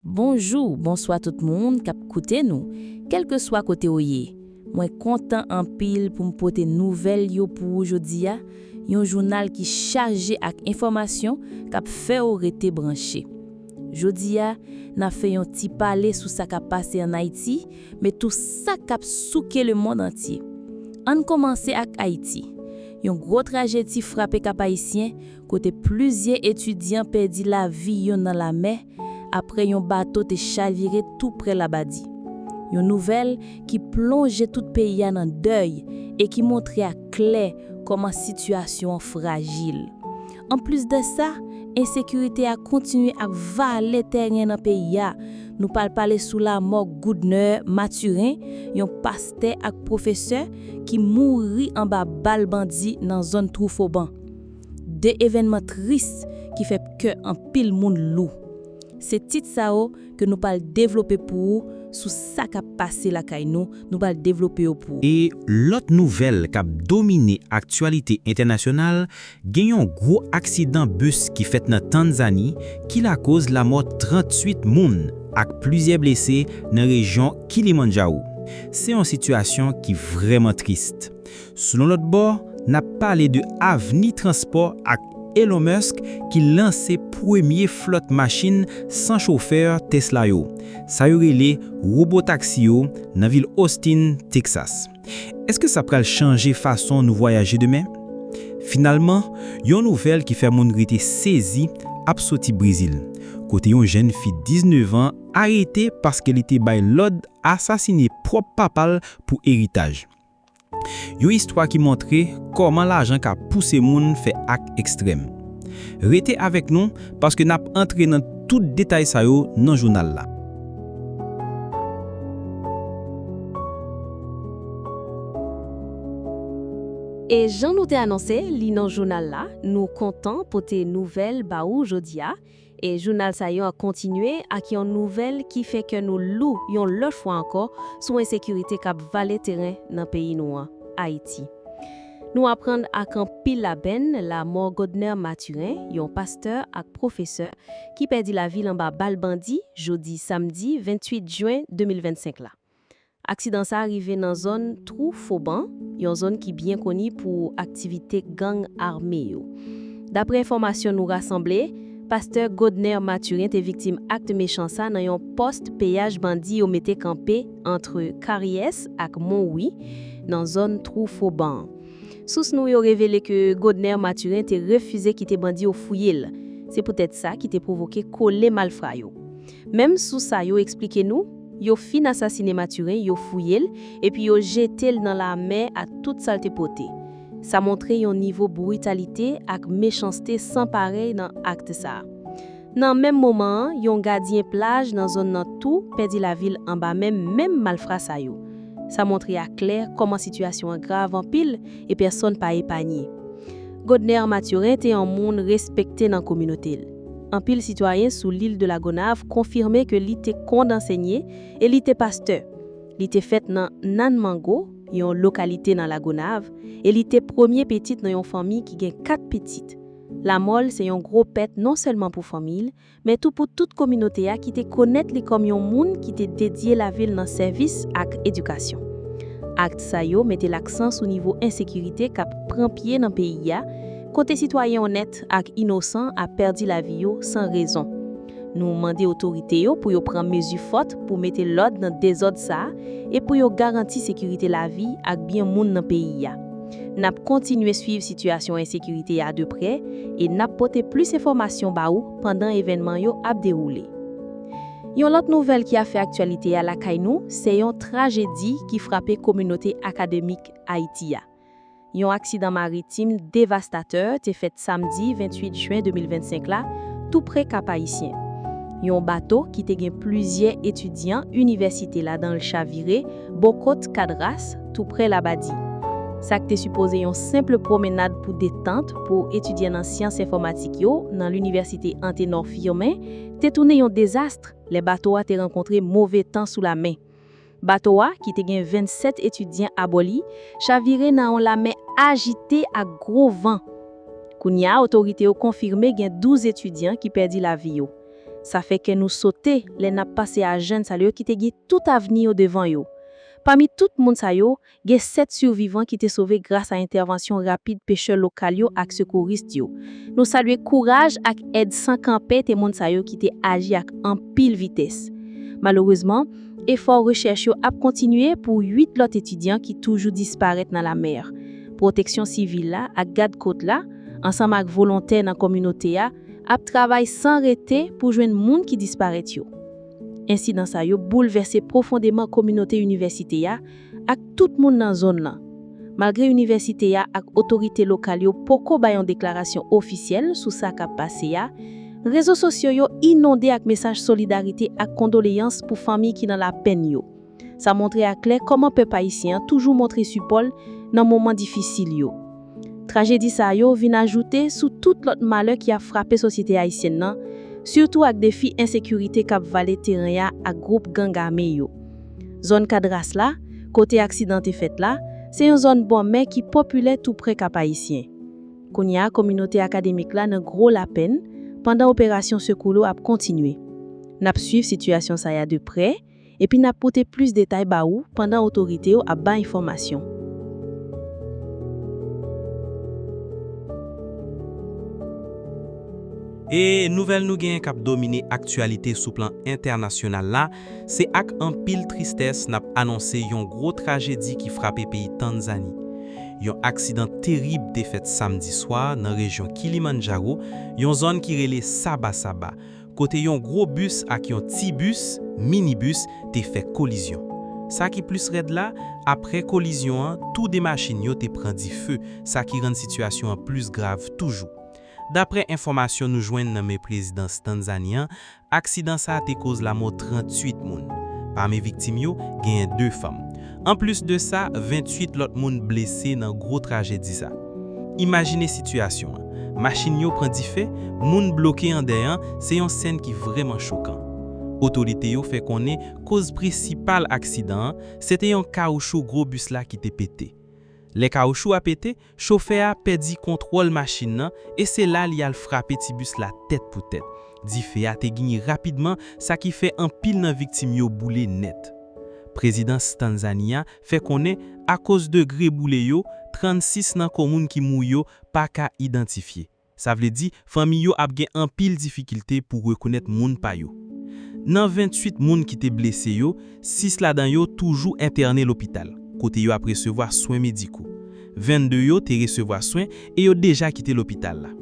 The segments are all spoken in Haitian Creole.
Bonjou, bonswa tout moun kap koute nou, kelkeswa kote ou ye. Mwen kontan anpil pou m pote nouvèl yo pou ou jodi a, yon jounal ki chaje ak enfòmasyon kap fè ou rete branche. Jodi a, na fè yon ti pale sou sa kap pase an Ayiti, men tou sa kap souke lemond antye. Ann kòmanse ak Ayiti. Yon gwo trajedi frape Kap-Ayisyen, kote plizyè etidyan pèdi lavi yo nan lamè, apre yon bato te chavire tou prè Labadi. Yon nouvèl ki plonje tout peyi a nan dèy e ki montre a klè kòman sitiyasyon an frajil. Anplis de sa, ensekirite a kontinye ap vale tèren nan peyi a. Nou pral pale sou lamò Goodner Mathurin, yon pastè ak pwofesè, ki mouri anba bal bandi nan zòn Twoufoban. 2 evènman tris ki fè kè anpil moun lou. Se tit sa yo ke nou pral devlope pou ou sou sa kap pase lakay nou, nou pral devlope yo pou. E lòt nouvèl kap domine aktyalite entènasyonal, gen yon gwo aksidan bus ki fèt nan Tanzani ki lakoz lamò 38 moun ak plizyè blese nan rejyon Kilimandjawou. Se yon sitiyasyon ki vrèman trist. Sou yon lòt bò, n ap pale de avni transpò ak Elon Musk ki lanse premye flòt machin san chofè Tesla yo, sa yo rele Robotaxi yo, nan vil Austin, Texas. Èske sa pral chanje fason nou vwayaje demen? Finalman, yon nouvèl ki fè moun rete sezi ap soti Brezil, kote yon jenn fi 19 an arete paske li te bay lòd asasine pwòp papa l pou eritaj. Yon istwa ki montre kòman lajan ka pouse moun fè ak ekstrèm. Rete avèk nou paske n ap antre nan tout detay sa yo nan jounal la. E jan nou te anonse li nan jounal la, nou kontan pote nouvèl ba ou jodi a, E jounal sa yo ap kontinye ak yon nouvèl ki fè kè nou lou yon lòt fwa ankò sou ensekirite k ap vale teren nan peyi nou an, Ayiti. Nou aprann ak anpil lapenn lamò Godner Mathurin, yon pastè ak pwofesè ki pèdi lavi l anba bal bandi jodi samdi 28 jen 2025 la. Aksidan sa rive nan zòn Twou Foban, yon zòn ki byen koni pou aktivite gang ame yo. Daprè enfòmasyon nou rasanble, pastè Godner Mathurin te viktim akt mechan sa nan yon pòst peyaj bandi yo mete kanpe antre Karyès ak Monwi, nan zòn Twou Foban an. Sous nou yo revele ke Godner Mathurin te refize kite bandi yo fouye l, se poutèt sa ki te pwovoke kole malfra yo. Menm sous sa yo eksplike nou, yo fin asasine Mathurin, yo fouye l, epi yo jete l nan lamè ak tout sa l te pote. Sa montre yon nivo britalite ak mechanste san parèy nan akt sa. Nan menm moman an, yon gadyen plaj nan zòn nan tou pèdi lavi l anba men menm malfra sa yo. Sa montre a klè kòman sitiyasyon an grav anpil e pèsonn pa epanye. Godner Mathurin te yon moun respekte nan kominote l. Anpil sitwayen sou Lil de la Gonav konfime ke li te kond ansenye e li te pastè. Li te fèt nan Nann Mango, yon lokalite nan La Gonav, e li te premye petit nan yon fanmi ki gen 4 pitit. Lamò l se yon gwo pèt non sèlman pou fanmi l, men tou pou tout kominote a ki te konèt li kòm yon moun ki te dedye lavi l nan sèvis ak edikasyon. Akt sa yo mete laksan sou nivo ensekirite k ap pran pye nan peyi a, Kote sitwayen onèt ak inosan ap pèdi lavi yo san rezon. Nou mande otorite yo pou yo pran mezi fòt pou mete lòd nan dezòd sa a e pou yo garanti sekirite lavi ak byen moun nan peyi a. N ap kontinye swiv sitiyasyon ensekirite a de prè e n ap pote plis enfòmasyon ba ou pandan evènman yo ap dewoule. Yon lòt nouvèl ki ap fè aktyalite a lakay nou se yon trajedi ki frape kominote akademik Ayiti a. Yon aksidan maritim devastatè te fèt samdi 28 jen 2025 la tou pre Kap Ayisyen. Yon bato ki te gen plizyè etidyan inivèsite ladan l chavire bò kot Cadras tou pre Labadi. Sa k te sipoze yon senpl pwomenad pou detant pou etidyan nan syans enfòmatik yo nan linivèsite Antenor Firmin te tounen yon dezastr lè bato a te rankontre move tan sou lame. Bato a, ki te gen 27 etidyan abò li, chavire nan yon lamè ajite ak gwo van. Kounye a otorite yo konfime gen 12 etidyan ki pèdi lavi yo. Sa fè kè nou sote lè n ap panse a jèn sa yo ki te gen tout avni yo devan yo. Pami tout moun sa yo, Gen 7 sivivan ki te sove gras a entèvansyon rapid pechè lokal yo ak sekourist yo. Nou salye kouraj ak èd san kanpe te moun sa yo ki te aji ak anpil vitès. Malerezman, efò rechèch yo ap kontinye pou 8 lòt etidyan ki toujou disparèt nan lamer. Pwoteksyon sivil la ak gad kot la, ansanm ak volontè nan kominote a, ap travay san rete pou jwenn moun ki disparèt yo. Ensidan sa yo boulvèse pwofondeman kominote inivèsite a, ak tout moun nan zòn lan. Malgre inivèsite a ak otorite lokal yo poko bay yon deklarasyon ofisyèl sou sa k ap pase a, rezo sosyo yo inonde ak mesaj solidarite ak kondoleyans pou fanmi ki nan lapenn yo. Sa montre aklè kòman pèp ayisyen an toujou montre sipò l nan moman difisil yo. Trajedi sa yo vin ajoute sou tout lòt malè ki ap frape sosyete ayisyèn nan, sitou ak defi ensekirite k ap vale teren a ak gwoup gang ame yo. Zòn Kadras la, kote aksidan te fèt la, se yon zòn bò mè ki popilè toupre Kap-Ayisyen. Kounye a kominote akademik la nan gwo lapenn, pandan operasyon sekou lo ap kontinye. N ap swiv sitiyasyon sa ya de prè, epi n ap pote plis detay ba ou pandan otorite yo ap bay enfòmasyon. E nouvèl nou genyen k ap domine aktyalite sou plan entènasyonal la, se ak anpil tristès n ap anonse yon gwo trajedi ki frape peyi Tanzani. Yon aksidan terib te fèt samdi swa nan rejyon Kilimandjaro, yon zòn ki rele Saba Saba, kote yon gwo bis ak yon ti bis, minibus, te fè kolizyon. Sa ki plis rèd la, aprè kolizyon an, tou 2 machin yo te pran dife, sa ki rann sitiyasyon an plis grav toujou. Daprè enfòmasyon nou jwenn nan men prezidans Tanzani an, aksidan sa a te koz lamò 38 moun. Pami viktim yo, genyen 2 fanm. Anplis de sa, 28 lòt moun blese nan gwo trajedi sa. Imajine sitiyasyon an, machin yo pran dife, moun bloke andedan, se yon sèn ki vrèman chokan. Otorite yo fè konnen koz prensipal aksidan an, se te yon kawochou gwo bis la ki te pete. Lè kawochou a pete, Chofè a pèdi kontwòl machin nan e se la li al frape ti bis la tèt pou tèt. Dife a te gnyn rapidman sa ki fè anpil nan viktim yo boule nèt. Prezidans Tanzania fè konnen akoz degre boule yo, 36 nan komoun ki mouri yo pa ka idantifye. Sa vle di, fanmi yo ap gen anpil difikilte pou rekonèt moun pa yo. Nan 28 moun ki te blese yo, 6 ladan yo toujou entène lopital, kote yo ap resevwa swen mediko. 22 yo te resevwa swen e yo deja kite lopital la.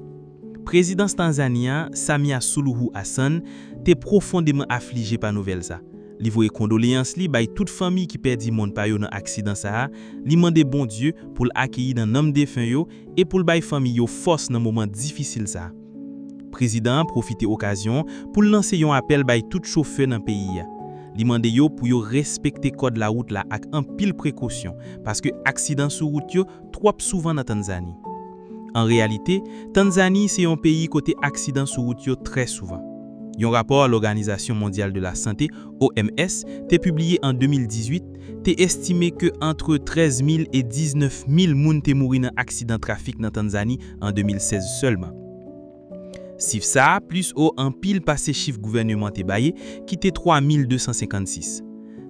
Prezidans Tanzani a, Samia Suluhu Hassan, te pwofondeman aflije pa nouvèl sa. Li voye kondoleyans li bay tout fanmi ki pèdi moun pa yo nan aksidan sa a, li mande Bondye pou l akeyi nan nanm defen yo e pou l bay fanmi yo fòs nan moman difisil sa. Prezidan an pwofite okazyon pou l lanse yon apèl bay tout chofè nan peyi a. Li mande yo pou yo respekte kòd lawout la ak anpil prekosyon paske aksidan sou wout yo twòp souvan nan Tannzani. An reyalite, Tannzani se yon peyi kote aksidan sou wout yo trè souvan. Yon rapò Lòganizasyon Mondyal de Lasante, OMS, te pibliye an 2018, te estime ke antre 13 mil e 19 mil moun te mouri nan aksidan trafik nan Tanzani an 2016 sèlman. Sif sa a plis wo anpil pase chif gouvèneman te baye ki te 3 mil 256.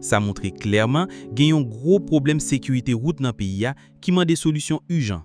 Sa montre klèman gen yon gwo pwoblèm sekirite wout nan peyi a ki mande solisyon ijan,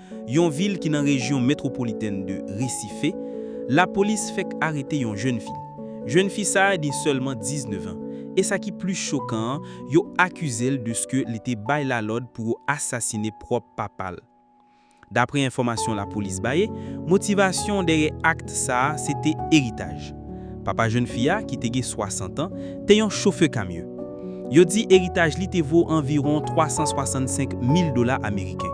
yon vil ki nan rejyon metwopolitèn de Recife, lapolis fèk arete yon jèn fi. Jèn fi sa a gen sèlman 19 an, e sa ki plis chokan an, yo akize l deske li te bay lalòd pou yo asasine pwòp papa l. Dapre enfòmasyon lapolis baye, motivasyon dèyè akt sa a se te eritaj. Papa jèn fi a, ki te gen 60 an, te yon chofè kamyon. Yo di eritaj li te vo anviwon 365 mil dola ameriken.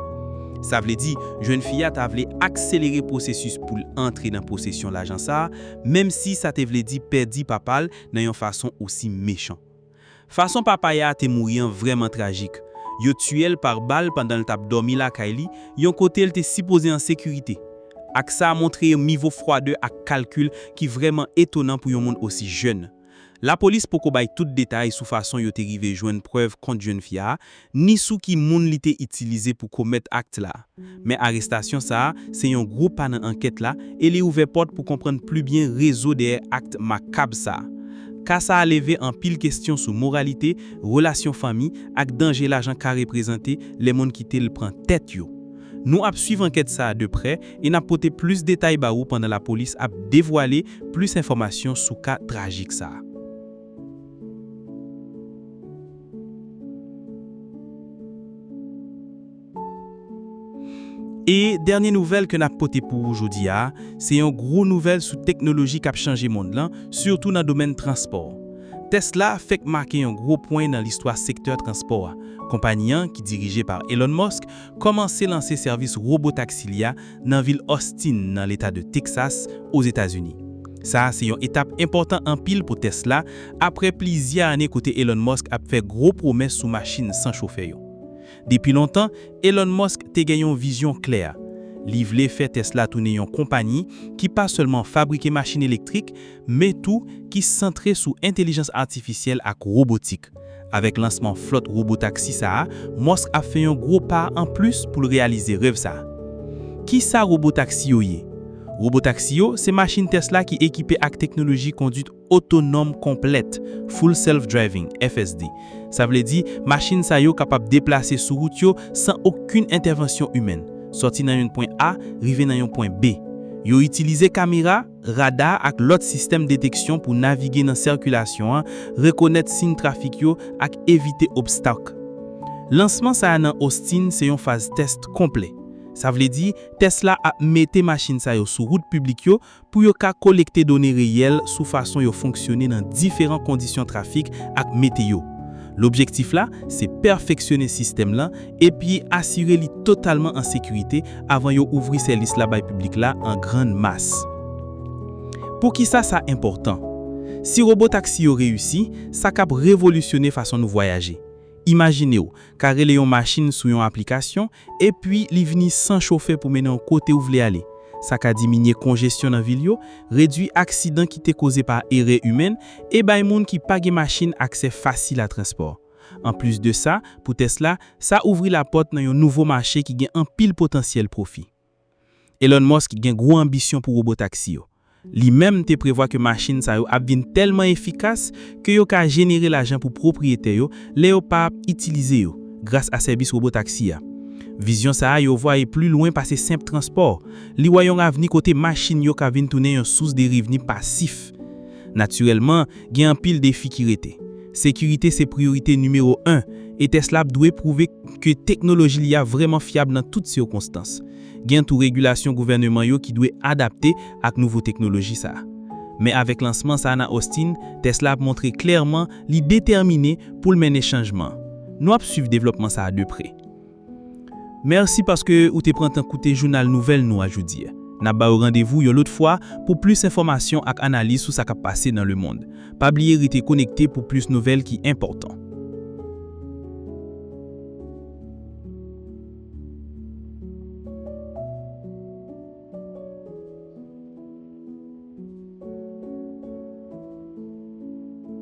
Sa vle di, jèn fi a ta vle akselere pwosesis pou l antre nan posesyon lajan sa a, menmsi sa te vle di pèdi papa l nan yon fason osi mechan. Fason Papaya a te mouri an vrèman trajik. Yo tiye l par bal pandan l t ap dòmi lakay li, yon kote l te sipoze an sekirite. Ak sa a montre yon mivo fwadè ak kalkil ki vrèman etonan pou yon moun osi jèn. Lapolis poko bay tout detay sou fason yo te rive jwenn prèv kont jèn fi a, ni sou ki moun li te itilize pou komèt akt la. Men arestasyon sa a se yon gwo pa nan ankèt la e li ouvè pòt pou konprann pli byen rezo dèyè akt makab sa. Ka sa a leve anpil kestyon sou moralite, relasyon fanmi ak danje lajan ka reprezante lè moun kite l pran tèt yo. Nou ap swiv ankèt sa a de prè e n ap pote plis detay ba ou pandan lapolis ap devwale plis enfòmasyon sou ka trajik sa a. E dènye nouvèl ke nap pote pou ou jodi a, se yon gwo nouvèl sou teknoloji kap chanje mond lan, sitou nan domèn transpò. Tesla fèk make yon gwo pwen nan listwa sektè transpò a. Konpanyi an, ki dirije pa Elon Musk, kòmanse lanse sèvis robotaxi li a nan vil Austin nan Leta de Texas, Ozetazini. Sa a se yon etap enpòtan anpil pou Tesla apre plizyè ane kote Elon Musk ap fè gwo pwomès sou machin san chofè yo. Depi lontan, Elon Musk te gen yon vizyon klè, li vle fè Tesla tounen yon konpanyi ki pa sèlman fabrike machin elektrik, men tou ki santre sou entelijans atifisyèl ak wobotik. Mòsk. Avèk lansman flòt wobotaksi sa a, Mòsk ap fè yon gwo pa an plis pou l reyalize rèv sa. Ki sa wobotaksi yo ye? Wobotaksi yo se machin Tesla ki ekipe ak teknoloji konduit otonòm konplèt, Full Self Driving, FSD. Sa vle di, machin sa yo kapab deplase sou wout yo san okenn entèvansyon imèn, sòti nan yon pwen A rive nan yon pwen B. Yo itilize kamera. Rada ak lòt sistèm deteksyon pou navige nan sèkilasyon an rekonèt siyn trafik yo ak evite obstak. Lansman sa a nan Austin se yon faz tès konplè. Sa vle di, tès la ap mete machin sa yo sou wout piblik yo pou yo ka kolekte done reyèl sou fason yo fonksyone nan diferan kondisyon trafik ak meteyo. Lobjektif la se pèfeksyone sistèm lan epi asire li totalman an sekirite avan yo ouvri sèlis la bay piblik la an grann mas. Poukisa sa enpòtan? Si robotaksi yo reyisi, sa kab revolisyone fason nou vwayaje. Imajine w ka rele yon machin sou yon aplikasyon, epi li vini san chofè pou mennen w kote w vle ale. Sa ka diminye konjesyon nan vil yo, redui aksidan ki te koze pa erè imen, e bay moun ki pa gen machin aksè fasil a transpò. Anplis de sa, pou Tesla, sa ouvri lapòt nan yon nouvo mache ki gen anpil potansyèl pwofi. Elon Musk gen gwo anbisyon pou wobotaksi yo. Li menm te prevwa ke machin sa yo ap vin tèlman efikas ke yo ka jenere lajan pou pwopriyetè yo lè yo pa ap itilize yo, gras a sèvis wobotaksi a. Vizyon sa a yo vwa e pli lwen pase senp transpò. Li wè yon avni kote machin yo ka vin tounen yon sous de revni pasif. Natirèlman, gen anpil defi ki rete. Sekirite se priyorite nimewo 1, e Tesla ap dwe pwouve ke teknoloji li a vrèman fyab nan tout sikonstans. Gen tou regilasyon gouvèneman yo ki dwe adapte ak nouvo teknoloji sa a. Men avèk lansman sa a nan Austin, Tesla ap montre klèman li detèmine pou l mennen chanjman. Nou ap swiv devlòpman sa a de pre. Mèsi paske ou te pran tan koute jounal nouvèl nou a jodi. N ap ba ou randevou yon lòt fwa pou plis enfòmasyon ak analiz sou sa k ap pase nan lemond. Pa bliye rete konekte pou plis nouvèl ki enpòtan.